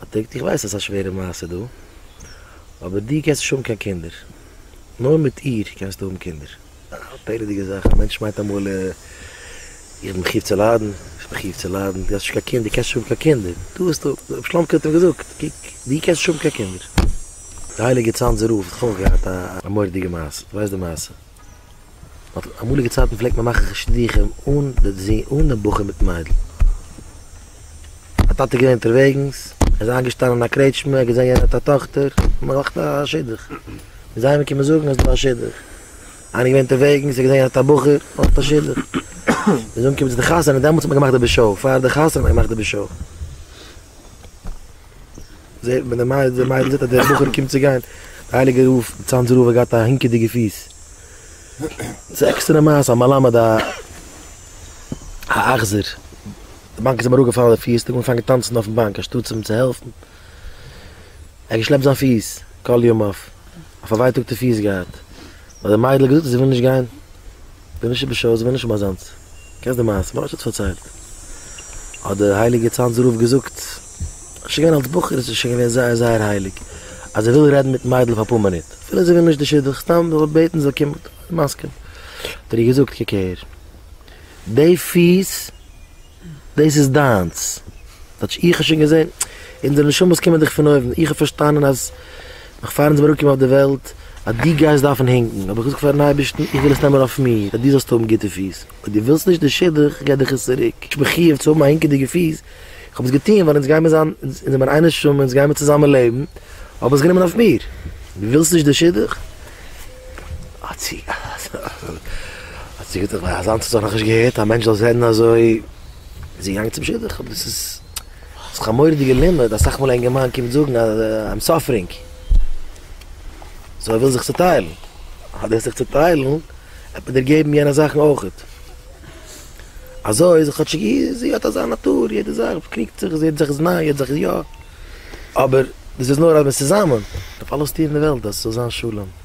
האט ער געזאגט איך ווייס אז ס'איז א שווערע מעשה דא, אבער דו קענסט נישט האבן קיין קינדער, נאר מיט איר קענסטו האבן קינדער. א פלא'דיגע זאך, א מענטש מיינט אמאל איך בין מחיוב צו ליידן, איך בין מחיוב צו ליידן, דו האסט נישט קיין קינד, דו קענסט נישט האבן קיין קינדער, דא האסטו, רבי שלמ'קע האט אים געזאגט, קוק, דו קענסט נישט האבן קיין קינדער. די הייליגע צאנזער רב האט אויך געהאט א מורא'דיגע מעשה, דו ווייסט די מעשה? אויף אמאליגע צייטן פלעגט מען מאכן שידוכים אן די בחור מיטן מיידל. א טאטע איז געווען אונטערוועגנס, ער איז איינגעשטאנען אין א קרעטשמע, ער האט געזען יענער האט א טאכטער, האט מען געמאכט א שידוך. און זיי האבן געקומען זאגן אז ס'דא א שידוך. איינער איז געווען אונטערוועגנס, ער האט געזען יענער האט א בחור, מען מאכט א שידוך. מ'איז אנגעקומען צו די חתונה, דעמאלטס האט מען געמאכט די בשו ע, פאר די חתונה האט מען געמאכט די בשו ע. זעהט מען די מיידל זעהט אז דער בחור קומט צו גיין, די הייליגע רב צאנז רב האט געהאט א הינקעדיגע פיס, ס'איז עקסטערע מעשה א מלמד א אכזר, די באנק איז אים אראפגעפאלן די פיס, ער האט אנגעפאנגען טאנצן אויפן באנק אנשטאטס אים צו העלפן, ער האט געשלעפט זיין פיס כל ימיו, א פארווייטאגטע פיס געהאט, האט די מיידל געזאגט אז זי וויל נישט גיין. די נישט איבער שעות ווען נישט אומאזאנס קענסט די מעשה ממש האט עס פארציילט האט די הייליגע צאנז רב געזאגט שוין געווען אלס בחור איז ער שוין געווען זייער זייער הייליג אז ער וויל רעדן מיטן מיידל פאר אפאר מינוט אפילו זי וויל נישט די שידוך סתם זאל ער בעטן זי זאל קומען מסכים האט ער איר געזאגט קוק הער די פיס דאס איז דיינס. כאטש איך האב שוין געזען. אונזערע נשמות קומען דאך פון אויבן. איך האב פארשטאנען אז נאך פאר אונז זעמיר אנגעקומען אויף די וועלט, אז דו גייסט דארפן הינקן. האב איך געזאגט פארן אייבערשטן, איך וויל עס נעמען אויף מיר, אז דו זאלסט האבן גוטע פיס. אויב דו ווילסט נישט די שידוך, גיי דיך עס צוריק. איך בין חיוב צו האבן א הינקעדיגע פיס. איך האב עס געטון, ווייל אונז גיימיר זיין, אונז זעמיר איין נשמה, אונז גיימיר צוזאמען לעבן. האב עס גענומען אויף מיר. דו ווילסט נישט די שידוך? האט זי האט זי געזאגט אז אזאנס האט זיך נאכנישט געהערט א מענטש זאל רעדן אזוי איז זי געגאנגען צום שידוך אבער דאס איז דאס א מורא'דיגע לימוד אסאך מאל א אינגערמאן קומט זאגן אז איים סאפערינג סאו ער וויל זיך צוטיילן און דורך זיך צוטיילן וועט מען דיר געבן יענע זאכן אויכעט אזוי איז כאטשיג זי האט אזא נאטור יעדע זאך באקריגט זיך זי רעדט זיך איז ניין רעדט זיך איז יא אבער דאס איז נאר אז מ'איז צוזאמען דארף אלעס טון אין די וועלט אז ס'זאל זיין שלום.